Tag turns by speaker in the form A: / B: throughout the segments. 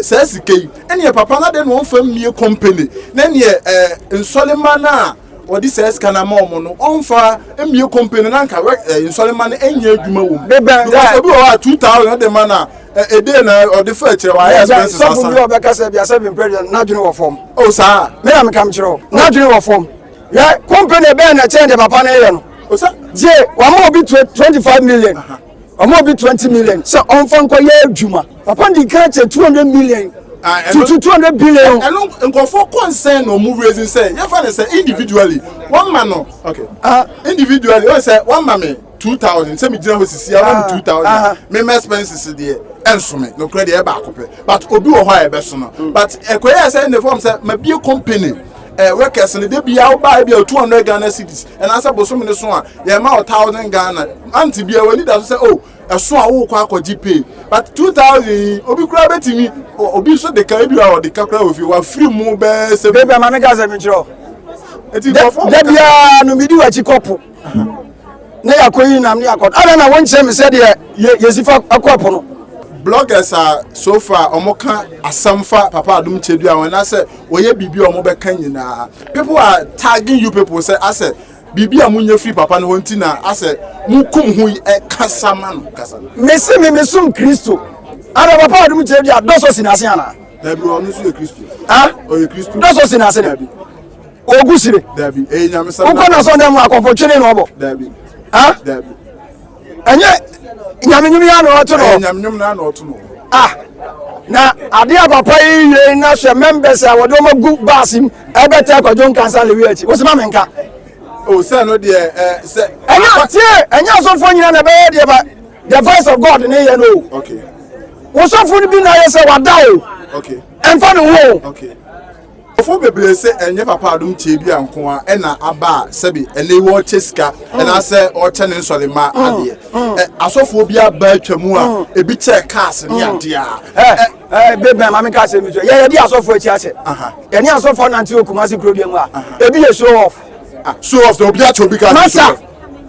A: saa sika yi ɛneɛ papa na dɛn na ɔmfa mmie company na neɛ eh, nsɔlema no a ɔde saa sika no ama ɔmo no ɔmfa mmie company na nka eh, nsɔlema no ɛnyɛ adwuma wɔ mu because obi wɔ hɔ a 2000 ɔde ma no a ɛdee na ɔde fa akyerɛ wɔ ayɛ expenses asa sɔfo bi a ɔbɛka sɛ biasɛ mempɛ deɛ n'adwene wɔ fam o saa me na meka mekyerɛ wo n'adwene wɔ fam yɛ company bɛɛ na ɛkyɛn deɛ papa no yɛ no gye wama obi 25 million wɔn obi twenty million sɛ ɔnfa nkɔ yɛ adwuma papa di kan kyɛ two hundred million tutu two hundred billion. ɛnu nkɔfɔ kɔnsɛn na ɔmu raising sɛ yɛn fa ne sɛ individually wɔn ma no okay uh, individually wɔn sɛ wɔn ma mi two thousand sɛ mi gyina hɔ sisi awo mi two thousand mi ma expenses deɛ ɛnsomi nokura deɛ ɛbaako pɛ but obi wɔ hɔ a ɛbɛ so no but ɛkɔyɛ sɛ ne fɔm sɛ ma bie company. eh, workers no de bia woba bia 200 Ghana cities and asa bosom ne so a yɛ ma 1000 Ghana anti bia wani da so sɛ oh ɛso a wo kɔ akɔgye pay but 2000 obi kura betimi obi so de ka bi a ɔde ka kura ofie wa free mu bɛɛ sɛ bɛbi ama me gaza mi kyerɛ eti bɔfɔ da bia no midi wa chi kɔpo na yɛakɔyi nam ne yɛakɔ adɛn na wonkyerɛ me sɛdeɛ yɛsi fa akɔ ɛpo no bloggers a so far wɔn ka asɛm fa papa adum kyɛ bi a wɔn asɛ wɔyɛ biribi a wɔn bɛka nyinaa people are tagging you people sɛ asɛ biribi a munya firi papa no hɔ nti na asɛ mukum ho yi ɛkasa ma no kasa no. mesi mi mi som kristo ana papa adum kyɛ bi a dɔsɔ si n'ase ana. dabi ɔno nso yɛ kristo. ah ɔyɛ kristo dɔsɔ si n'ase dabi. ogu sire wokɔ na sɔndɛ mu akɔfo twene na ɔbɔ ɛnyɛ nyamenyom yɛ na ɔto no ah na ade a papa yi yie na hwɛ members a wɔde wɔn agu baas mu ɛbɛtɛ akɔdwo nkansa lewi akyi wɔsi ma mi nka. o oh, sɛ no deɛ ɛ sɛ. ɛnyɛ atie ɛnyɛ asɔfo nyina na ɛbɛyɛ deɛ ba the voice of god ne yɛ no o. wosɔfo no bi na yɛ sɛ wada o. ɛnfa ne ho o. Nkorɔfoɔ bebree se ɛnyɛ Papa adom tiabea nko ara na aba a sɛbe ɛnnɛ yi wɔrekyɛ sika anaasɛ wɔrekyɛ ne nsɔremma adeɛ. Ɛ, asɔfoɔ bi aba atwa mu a ebi kyɛɛ cars ne adeɛ a. Ɛ, Ɛ. Ɛ, Babe Bɛn, ma menka asɛm bi nto wo. Yɛyɛ de asɔfoɔ akyi ahyɛ. Aha. Yɛne asɔfoɔ nante wɔ Kumasi kurodua mu a, ebi yɛ show off. Ah, show off dɛn? Obi akyɛ obi cars ne show off? Masa!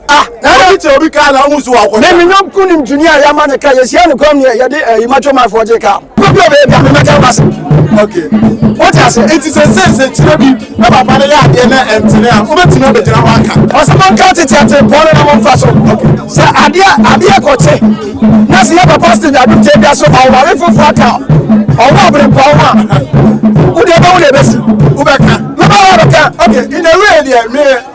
A: ah ɛyɛ ti obi kaa na ɔmu so wakɔ ne mi nyɔm kun nim duni a yama ne ka yɛ si ɛnu kɔm yɛ yɛde ɛyi ma twɛm afɔ gye ka. pɛpɛ bɛ ebi a mi ma kyɛn ba se. ok o ti a se eti sɛ se se kyerɛ bi na papa ne yɛ adeɛ na ɛntene a o bɛ ti na o bɛ gyina wa ka. ɔsɛ mo nka tete ate pɔn na mo nfa so sɛ adeɛ adeɛ kɔ kye na se yɛ papa stage adu te bi aso ɔware fufu aka ɔwɔ abiri pɔn ho a o deɛ bɛ wo na ebesi o bɛ ka. mɛ bɛ wɔ bɛ ka ok in a way deɛ mi.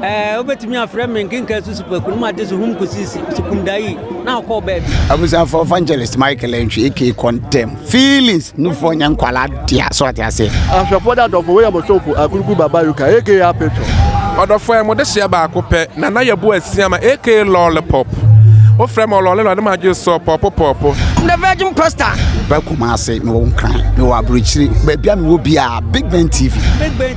A: Ɛɛ, wobɛtumi afrɛ me nkenka susupaku no mu ade so hum kɔsi sukumdayi na ɔkɔɔ baabi. abusuafo evangelist michael antwi aka kɔntɛm feelings nufoɔ nyɛ nkwala dea so ate aseɛ ahwɛfoɔ da dɔfo wei yɛ mo somfo akuruku baba yuka aka apetɔ Ɔdɔfoɔ ɛ mo de hyɛ baako pɛ na na yɛ bo asia ma aka lollipop wo frɛ me ɔlɔle na ɔde ma gye sɔ pɔpo pɔpo. I'm the virgin pastor. Meba Kumasi, mewɔ Nkran, mewɔ Aburokyire, baabi a mewɔ biara, Big Ben TV. Big Ben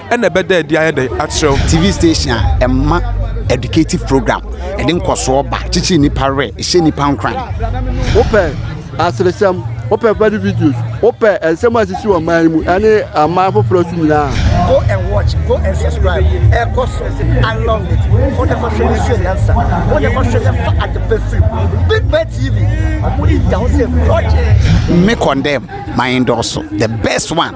A: ɛna ɛbɛda adi ayɛ dɛ akyerɛ wo. TV station a ɛma educative program, ɛde nkɔsoɔ ba, kyekyere nipa werɛ, ɛhyɛ nipa nkuran. Wopɛ aseresɛm, wopɛ funny videos, wopɛ nsɛm a ɛsisi wɔ man mu ɛne aman foforɔ so nyinaa. Go and watch, go and subscribe. Ɛkɔ so, I love it. Wo ne kɔhwɛ ne sua nyansa, wo ne kɔhwɛ ne fa adepa firi mu. Big Bird TV, ɔmo de da ho sɛ project. Me condemn, my endorse, the best one.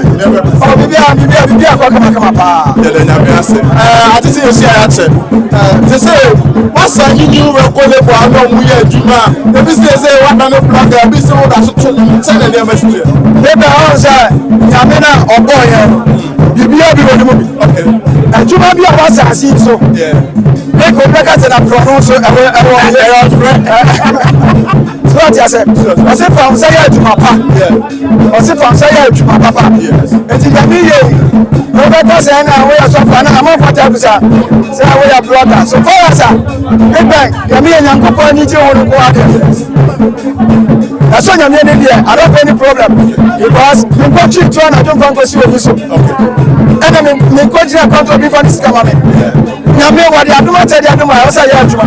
A: ɔ bibia
B: bibia bibia kɔ kama kama paa yɛdɛ nyame ase
A: ɛɛ ate sɛ yɛhyia yɛakyɛ ɛɛ te sɛ wasa yi new record label ano ɔmo yɛ adwuma ebi sɛ sɛ wada no blɔga ebi sɛ woda so to nom sɛ na nneɛma si yɛ yɛbɛ ɔn sɛ
B: nyame na ɔbɔ yɛ no bibia bi wɔ ne mu bi adwuma bi a wasa ase yi so ne
A: ko bɛ ka
B: sɛ na prɔno so ɛwɔ ɛwɔ ɛwɔ frɛ so ɔte asɛ ɔsɛ fa wo sɛ yɛ adwuma pa ɔsi fɔnsa yɛ adwuma papa eti nyame yie wobɛka sɛ na woyɛ sɔfo ana amamfata bisa sɛ woyɛ blɔga so fɔrasa big bang nyame yɛ nyankopɔn ani gye wo no ko adeɛ ɛsɔ nyame ne deɛ i don't have any problem because menkɔtwe tu anadwo mfa nkɔsi wɔ bi so ɛna menkɔgyina kɔntɔ bi fa ne sika ma me nyame wɔde adom akyɛde adom a ɛwɔ sɛ yɛ adwuma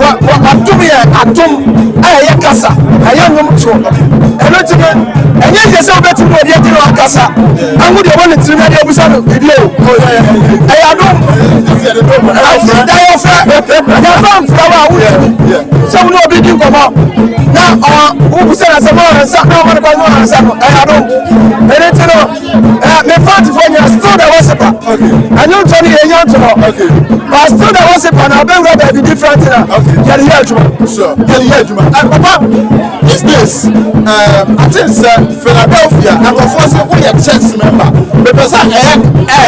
B: wɔ wɔ atom yɛ atom a ɛyɛ kasa ɛyɛ nwom toɔ ɛno nti no ɛnyɛ yɛ sɛ wobɛtumi wɔ deɛ gye no akasa aho deɛ wɔ ne tirim ɛde abusa no biribi o ɛyɛ adom ɛda yɛ fɛ yɛfa mfra wɔ a wotumi sɛ wo ne obi di nkɔmmɔ na ɔ wobusɛ na sɛ moansa na ɔmane kɔ moansa no ɛyɛ adom ɛno nti no me fat for me still the worshiper ɛno ntɔ no yɛnya nto hɔ but still the worshiper na abɛwura baabi different na yɛde yɛ adwuma
A: yɛde yɛ adwuma and papa these days um, I think sɛ Philadelphia nkɔfoɔ sɛ woyɛ church member mepɛ sɛ ɛyɛ ɛ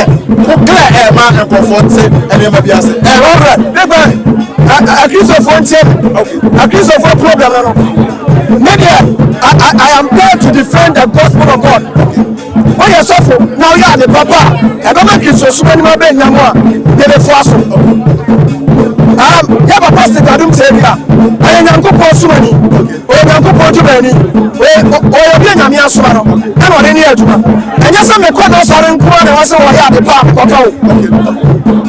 A: ko clear ɛ ma nkɔfoɔ nte ɛnneɛma bi ase ɛ wɔn rɛ ne bɛ
B: akristofoɔ ntie akristofoɔ problem no. Me deɛ, I, I, I am there to defend the gospel of God. Woyɛ sɔfo na woyɛ ade papa a, ɛbɛma kristosom anim abɛnya mu a, yɛbɛfo aso. Um, yɛ papa sikadom sɛ bi a, ɔyɛ Nyankopɔn somani, ɔyɛ Nyankopɔn dwumani, ɔyɛ ɔyɛ obi a Nyame asoma no, ɛna ɔde ne yɛ adwuma. Ɛnyɛ sɛ mekɔ n'asɔre nko ara na ɛwɔ sɛ wɔyɛ ade pa a mekɔka o.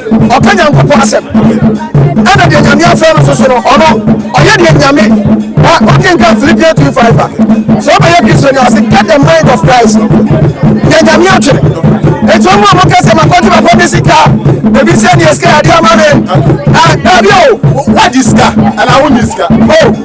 B: Ɔka Nyankopɔn asɛm, ɛna deɛ Nyame afrɛ no soso no, ɔno ɔyɛ deɛ Nyame na ɔkenka Philippians 2 5 a. Sɛ ɔbɛyɛ Kristo no ase, get the mind of Christ no, deɛ Nyame atwene. Enti ɔmo a moka sɛ makɔgye makɔ de sika, ebi sɛ deɛ sika yɛde ama me, ah, daabi o. Wagye sika
A: anaa wonnye sika? Oh.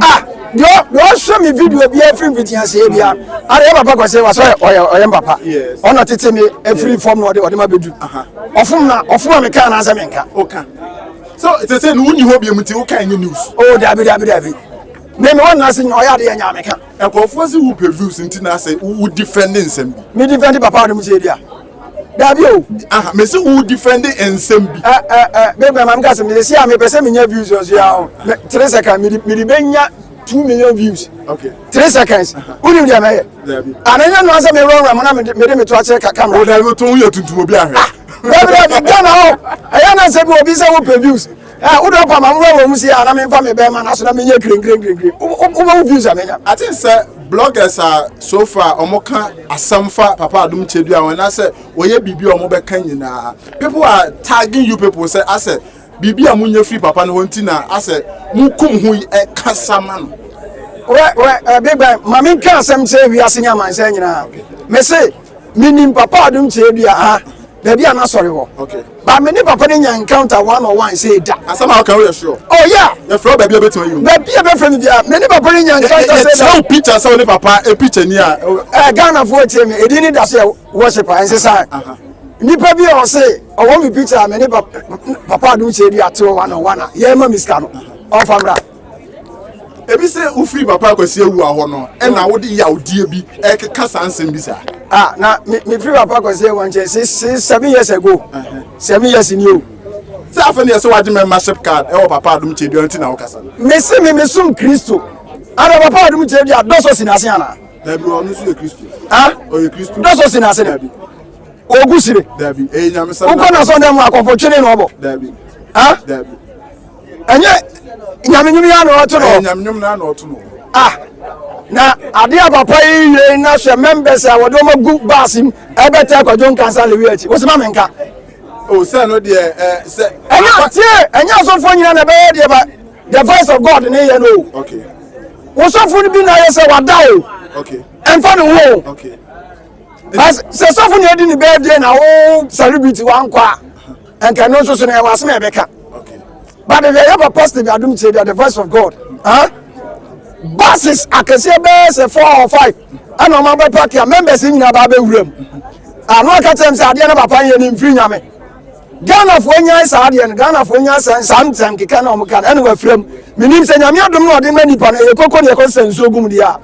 A: Ah, deɛ deɛ ɔhwɛ
B: me video bi afiri mfiti aseɛ bi a ara yɛ papa kwasɛ wa sɛ ɔyɛ ɔyɛ mpapa ɔna tete me afiri fam na ɔde ɔde ma bɛdu ɔfom na ɔfom a meka anaasɛ menka ɔka
A: so sɛsɛ no wonni hɔ biamu nti woka ɛnyɛ news o oh, daabi daabi daabi
B: me me wɔn ase nyɛ ɔyɛ adeɛ nyɛ ameka nkurɔfoɔ se wo pɛ
A: views nti na ase wo defend nsɛm bi me defend papa ɔde mu sɛ
B: bi a dabi o. aha mesi wo defend
A: nsɛm bi. ɛ ɛ ɛ bɛbɛ maame
B: kasi mi si a mi pɛsɛ mi nya views ɔsi ya o mɛ three seconds mi mi de bɛ nya two million views okay. three seconds wuli wuli ɛmɛ yɛ ana nya nua sɛ mi wura wura mu na mi de mi to akyerɛ ka camera. o da ibi to n yɛ tuntum
A: obi ahɛ. bɛbi dɛ bi gana
B: o ɛyɛ na sɛ bi obi sɛ wo pɛ views Eh, wo dɔn pama mo wɔ mu si a na me mfa me bɛn ma na so na me nyɛ krenkrengrenkreng. Wo wo wo views a me nya. I think sɛ
A: bloggers a so far wɔn ka asɛm fa Papa Adum Kyedua wɔn na sɛ wɔyɛ biribi a wɔn bɛka nyinaa people are tagging you people sɛ asɛ biribi a mo nya firi papa no hɔ nti na asɛ mo kum ho yi ɛka sama no. Wɛ wɛ ɛɛ
B: big bang maame nka asɛm sɛ wiase ne amansan nyinaa mese menim papa adom kyerɛ bi aha baabi a n'asɔre wɔ okay ba me ne papa
A: no nya
B: encounter one on one sɛ ɛda asɛm a woka woyɛ sure
A: oh yeah yɛfrɛ wo
B: baabi a bɛtumi ayi
A: baabi a bɛfrɛ me biara me
B: ne papa no nya encounter sɛ ɛda wo picture sɛ wo ne papa
A: e picture ni a ɛ ghanafoɔ atie
B: me ɛdin ne da so yɛ worship a ɛnse saa nipa bi a ɔse ɔwɔ me picture a me ne papa adom kyerɛ bi ateɔ one on one a yɛma me sika no ɔfa mmra
A: ebi sɛ wofiri papa akwasi awua hɔ no ɛna wode yawdeɛ bi ɛkeka saa nsɛm bi saa ah na mefiri
B: papa akwasi awua nkyɛ se se seven years ago seven years ni o sɛ afei ne yɛ
A: sɛ wagye membership card ɛwɔ papa adom kyɛdua nti na wokasa mese me mesom
B: kristo ana papa adom kyɛdua dɔsɔ si n'ase anaa dabi ɔno nso yɛ
A: kristo ah ɔyɛ kristo dɔsɔ si n'ase dabi
B: ogu sire dabi ɛyɛ
A: nyamesa wokɔ na sɔndɛ mu akɔfo
B: twene na ɔbɔ dabi ah
A: dabi
B: ɛnyɛ nyame nwom yɛ na ɔto no nyame nwom na ɔto no
A: ah na
B: adeɛ a papa yi wie na hwɛ members a wɔde wɔn agu baas mu ɛbɛtɛ akwadwo nkansa lewi akyi wɔsi ma menka o sɛ
A: no deɛ ɛ sɛ ɛnyɛ atie ɛnyɛ
B: asɔfoɔ nyina na ɛbɛyɛ deɛ ba the voice of god ne yɛ no o
A: wosɔfo
B: no bi na ayɛ sɛ wada o ɛmfa
A: ne ho o
B: sɛ sɔfo na ɛdi ne bɛɛ deɛ na wo celebrity wankɔ a nka ɛno nso so no ɛwɔ asɛm a ɛbɛka but deɛ yɛ papa steve adom tie deɛ the voice of god huh? buses akɛseɛ bɛyɛ sɛ four or five ɛna ɔma bɛ park a members nyinaa baa bɛwura mu ano ah, aka kyɛm sɛ adeɛ no papa yɛ ne mfiri nyame ghanafoɔ nyae saa adeɛ no ghanafoɔ nyae sɛ saa ntɛm keka na ɔmo ka no ɛna wafira mu menim sɛ nyame adom na ɔde ma nipa no ɛyɛ koko ne ɛkɔ sɛ nsuo gum deɛ a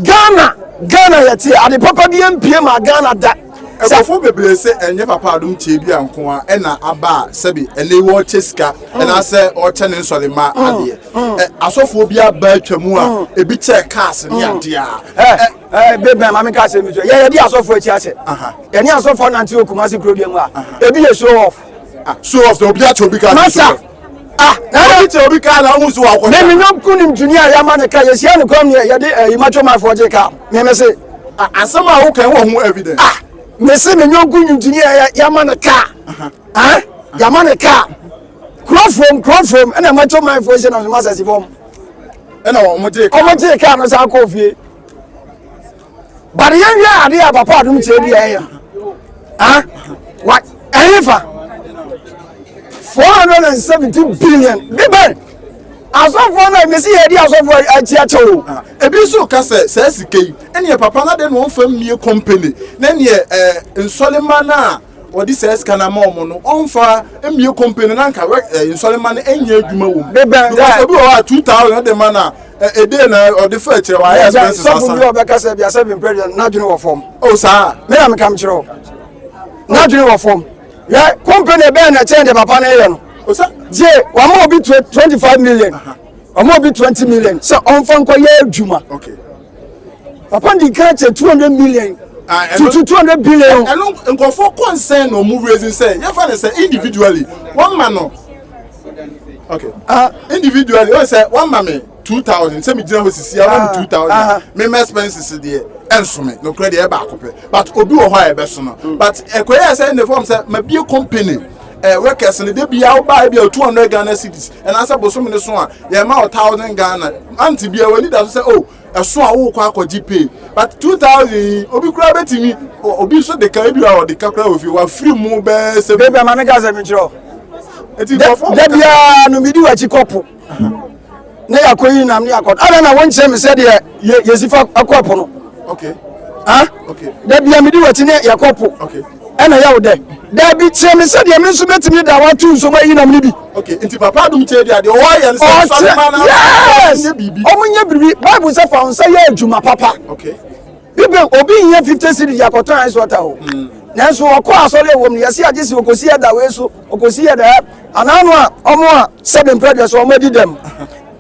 B: ghana ghana yɛte ade papa bi mpie ma ghana da Nkurɔfoɔ bebree
A: se ɛnyɛ papa adom tie dua nko ara na aba a sɛbe ɛnɛ yi wɔrekyɛ sika anaasɛ wɔrekyɛ ne nsɔremma adeɛ. Ɛ, asɔfoɔ bi aba atwa mu a ebi kyɛɛ cars ne adeɛ a ɛ, ɛ, Ɛɛ, Big Man, ma menka asɛm
B: bi nkyerɛ wo. Yɛn yɛde asɔfoɔ akyi ahyɛ. Aha. Yɛne asɔfoɔ nante wɔ Kumasi kurodua mu a, ebi yɛ show off. ah, show off na obi
A: akyɛ obi cars ne show Masa! off.
B: ah ɛyɛ
A: ti obi kaa na ɔmu so wakɔ ne mi nyɔm kun nim junior
B: yɛ ama ne ka yɛ si ɛnu kɔm yɛ yɛ de ɛyi ma twɛm afɔ gye ka ne mi se. asɛm a
A: wokɛn wɔ ho evidence. ah ne se ne
B: nyɔm kun nim junior yɛ yɛ ama ne ka ɛn yɛ ama ne ka kuro fom kuro fom ɛna ɛma twɛm afɔ gye na ɔmo asɛsi fɔm. ɛna
A: ɔmo gye kaa no saa kɔɔ
B: fie. But yɛn hwɛ adeɛ a papa adum kyerɛ bi a ɛyɛ ah wa ɛyɛ fa four hundred and seventy billion bíbẹ asɔfoɔ náà mesi yɛ di asɔfoɔ akyi akyɛ o. Ah, ebi nso ka
A: sɛ sɛ sika yi ɛnìyɛ papa náà de na wɔn fam nie company na ɛnìyɛ ɛɛ eh, nsɔlema náà wɔde saa sika no ama wɔn no ɔnfa mmie kɔmpe no na nka wɛ ɛ eh, nsɔrema no nyɛ adwuma wɔ mu because obi wɔ hɔ a
B: two
A: thousand ɔde ma na ɛde eh, eh, na ɔde fɛ akyerɛ wɔ ayɛ expenses asa. sɔfo bi a ɔbɛka sɛ bi
B: asɛ bi mpɛ deɛ n'adwene wɔ fam. o oh, saa. mi na
A: mi ka mi kyerɛ o
B: n'adwene wɔ fam yɛ kɔmpe na ɛbɛn na ɛkyɛn de papa ne yɛ no. o oh, sa. die wɔn a obi twenty five million wɔn a obi twenty million sɛ ɔnfa nkɔ yɛ adwuma. okay.
A: papa
B: di kan kyɛ two hundred million ah, tutu two hundred billion. ɛno nkɔfoɔ
A: kɔnsɛn na ɔmo raising sɛ yɛfa ne sɛ individually wɔn ma no okay ah. individually wɔn sɛ wɔn ma mi two thousand sɛ mi gyina hɔ sisi awa mi ah. two thousand mi ma expenses deɛ ɛnso mi nokura deɛ ɛbaako pɛ but obi wɔ hɔ a ɛbɛso no hmm. but ɛkɔyɛ sɛ ɛnna fɔm sɛ ma bie company. eh, workers no de bia wobaa bia two hundred ghana cities ɛnaasɛ bosome no so a yɛma wo thousand ghana ante bia w'ani da so sɛ o oh, ɛso a wokɔ akɔgye pay but two thousand yi obi koraa bɛtumi obi nso de ka ebi a ɔde ka koraa ofie wafiri mu bɛɛ sɛ. bɛbi ama ne ka sɛ mekyerɛ o.
B: eti nkɔfɔ.
A: dabiara no midi
B: w'akyi kɔpo. ne yɛakɔ yi nam ne yɛakɔ adɛn na wonkyerɛ me sɛdeɛ yɛsi fa kɔ po no
A: da bia mede
B: wati ne yɛkɔ po ɛna
A: yɛwo dɛ
B: da bi kyerɛ me sɛdeɛ me nso bɛtumi da wato nsom ayi nam no bi nti papa adom
A: kyɛ deɛ deɛ ɔwɔ yɛ nsɛmfa no ma no
B: ɔmo nyɛ biribi bible sɛ fa wo nsa yɛ adwuma papa
A: Bibel, obi
B: nhia fifty cedis de akɔtɔ ice water o. Nanso ɔkɔ asɔre a ɛwom no, yɛse agye se okosi ɛda wei so, okosi ɛda ha. Anaa no a, ɔmo a sɛbe mprɛdua so, ɔmo adi dɛm.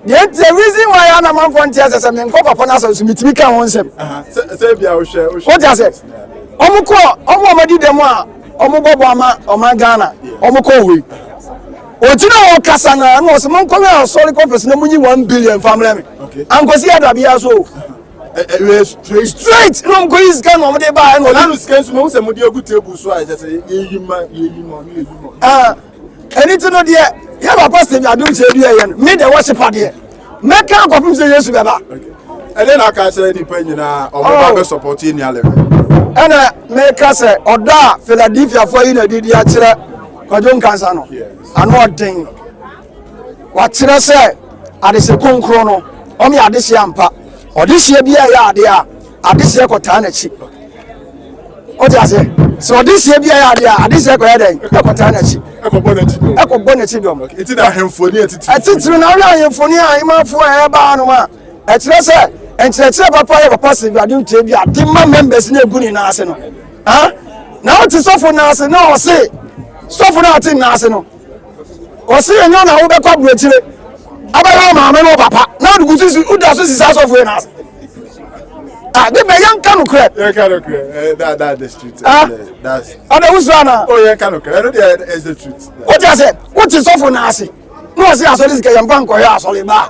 B: Deɛ nti, the reason why a na manfoɔ nte ase sɛ menkɔ papa no asɔre so, metumi ka ho nsɛm.
A: Wote ase?
B: Ɔmo kɔ, ɔmo a ɔmo adi dɛm a ɔmo bɔ bɔ ama ɔman Ghana, ɔmo kɔ hɔ yi. Ogyina hɔ kasa na na ɔse monkɔwɛn asɔre conference na munyi one billion mfa mmerɛ me. Ankosi ɛda biara so o. straight na ɔmkɔ yi sika na ɔmde ba ɛna ɔla no sika nso mahu sɛ mode
A: agu table so a ɛkyɛ sɛ
B: yɛyi ma
A: yɛyi ma ɔno yɛyi ma ɛne
B: ti no
A: deɛ yɛ
B: ba pastor bi adom kyɛ bi ɛyɛ no me deɛ wɔhye pa deɛ mɛka akɔpem sɛ yesu bɛba ɛne na aka
A: kyerɛ nnipa nyinaa ɔmɛba bɛ support yɛ nua lɛfɛ ɛna
B: meka sɛ ɔdɔ a philadelphiafoɔ yi na didi akyerɛ kwadwo nkansa no ano ɔden Wɔakyerɛ sɛ adehyeɛ kronkron no, ɔno yɛ adehyeɛ ampa. Ɔdehyeɛ bi a ɛyɛ adeɛ a, adehyeɛ kɔtaa n'akyi. Wote aseɛ? Sɛ ɔdehyeɛ bi a ɛyɛ adeɛ a, adehyeɛ kɔyɛ dɛn? Ɛkɔtaa n'akyi. Ɛkɔbɔ n'akyi dɔm. Ɛkɔbɔ n'akyi dɔm. Ɛti na ahemfoni
A: atitiri. Atitiri na ɔyɛ
B: ahemfoni a ahemafo a ɛbaa no a ɛkyerɛ sɛ nkyerɛkyerɛ papa yɛ papa sɛ awurade ntua bi ade ma members na egu ne nan ase no. Na ɔte sɔfo nan ase na ɔse sɔfo no ate nan ase no. ɔsi yɛ nyɛ na wo bɛkɔ aburokyire abɛyɛ maame no papa na ɔde kusi si woda so sisi asɔfo yɛ n'ase ah de bɛ yɛn nka no korɛ yɛn ka no korɛ ɛɛ that
A: that the street ah that's ɔde wusu ana
B: o yɛn ka no korɛ ɛno
A: deɛ is the truth o ti ase o
B: ti sɔfo n'ase na ɔsi asɔre sika yɛn ba nkɔyɛ asɔre baa.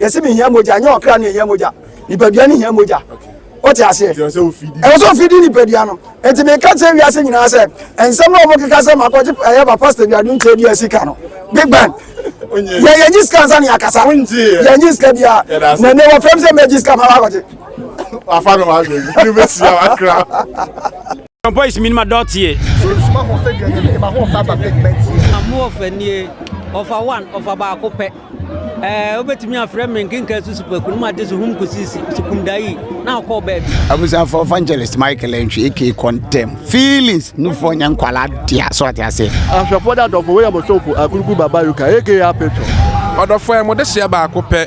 B: Yɛsi mi hia mogya, nyɛ ɔkra ne hia mogya. Nipadua ne hia mogya. Wote aseɛ? Ɛwɔ sɛ ofidi nipadua no. Eti mi ka kyerɛ wiase nyinaa sɛ, nsɛm na wɔn keka sɛ makɔgye ɛyɛ ba pastor bi adu nkyɛn dua sika no. Big bang. Yɛ yɛ nyi sika nsa ne akasa. Yɛ nyi sika bia. Na ne wɔfrɛ mi sɛ mɛ gye sika ma wakɔgye. Wafa
A: no wa gye. Ni bɛ si ya wakra. Some boys mi ma
C: dɔteɛ. Sunsum ahoɔfɛ deɛ nyɛ mi ma ahoɔfɛ aba pigment yɛ. Ahoɔfɛ nie ɔfa one ɔfa baako pɛ. Ɛɛ wobɛtumi afrɛ me nkenka susu pɛ kunum ade so hum kusisi sukumda yi na ɔkɔɔ baabi. Abusuafo evangelist Michael Antwi aka kɔntɛm feelings nufoɔ nyɛ nkwalaa dea so ate aseɛ. Ahwɛfoɔ de adɔfo wei yɛ mo somfo Akurugu Baba Yuka aka Apetwo. Ɔdɔfoɔ yɛ mo dehyeɛ baako pɛ.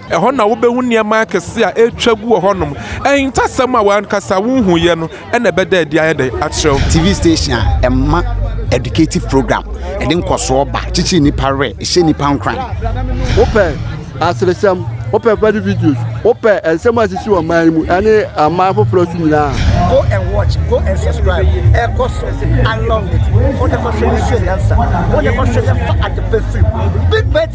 C: Ɛhɔ na wubehu nneɛma akɛse a atwa agu wɔ hɔnom. Ahintasɛm a w'ankasa wunhuiɛ no na ɛbɛda adi ayɛ dɛ akyerɛ wo. TV station a ɛma educative program, ɛde nkɔsoɔ ba, kyekye nnipa werɛ, ɛhyɛ nnipa nkuran. Wopɛ aseresɛm, wopɛ funny videos, wopɛ nsɛm a ɛsisi wɔ man yi mu ne aman foforɔ so nyinaa a. Go and watch, go and subscribe, ɛkɔ so, I love it, wo ne kɔhwɛ yɛn sua nyansa, wo ne kɔhwɛ yɛn fa adepa firi mu, Big Bird TV.